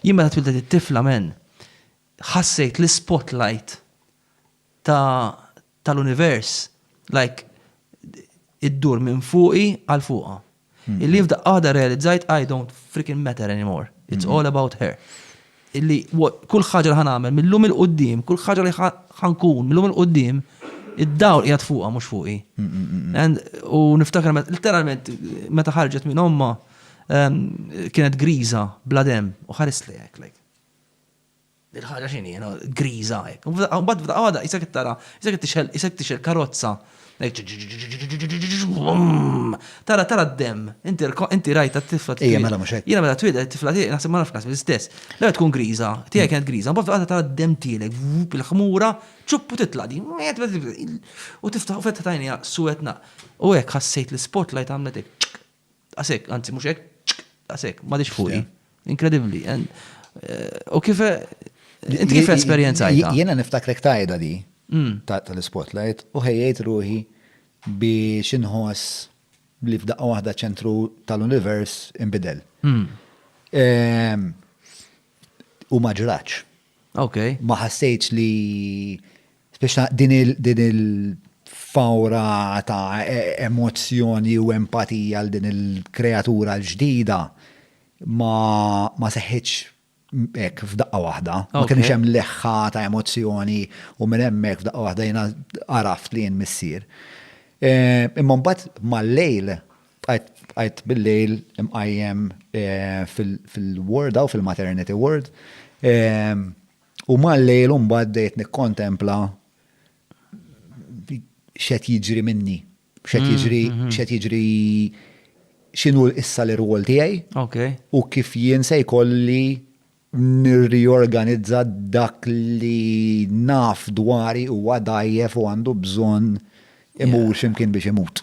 Jien meta twildet it-tifla men, ħassejt l-spotlight tal-univers, like, iddur minn fuqi għal fuqa. Hmm. Illi jibda għada realizzajt I don't freaking matter anymore. It's hmm. all about her. Illi kull ħaġa li ħanamel, mill-lum il-qoddim, kull ħaġa li ħankun, mill-lum il-qoddim, id-dawl jgħat fuqa, mux fuqi. Hmm, u niftakar, literalment, meta ħarġet minn omma, kienet griża, bla dem, u ħares li hekk like. Il-ħaġa x'inhi, griża hekk. Mbagħad f'daqqa waħda isek tara, isek tixel, isek tixel karozza. Tara tara d-dem, inti rajta t-tifla tiegħek. Mela mhux hekk. Jiena mela twieled tifla tiegħek naħseb ma nafx naħseb l-istess. La tkun griża, tiegħek kienet griża, mbagħad f'daqqa tara d-dem tielek, il-ħmura, ċuppu titla' din. U tiftaħ u fetħet għajnija suwetna. U hekk ħassejt l-spotlight għamlet hekk. Daqs hekk, anzi mhux hekk, ċk, daqs hekk, m'għadix fuqi. Inkredibbli. And, eh, U kif inti kif esperjenzajta? Jiena niftakrek tajda di Mm. ta- tal-spotlight u ħejjejt ruħi biex inħoss li f'daqqa waħda ċentru tal-univers imbidel. Mm. Ehm, U ma ġraċ. Okay. Ma ħassejtx li speċta din il-fawra ta' e- emozzjoni u empatija għal din il-kreatura l-ġdida ma, ma seħħitx ek f'daqqa waħda. Ma kienx hemm leħħa ta' emozzjoni u minn hemmhekk f'daqqa waħda jiena għaraft li jien missier. Eh, imma mbagħad mal-lejl Bqajt bil-lejl imqajjem fil-ward u fil-maternity ward. U mal-lejl u mbagħad dejt nikkontempla x'qed jiġri minni, x'qed jiġri, x'qed jiġri x'inhu issa l-irwol tiegħi u kif jien se jkolli nirriorganizza dak li naf dwari huwa dgħajjef u għandu bżonn imur xi mkien biex imut.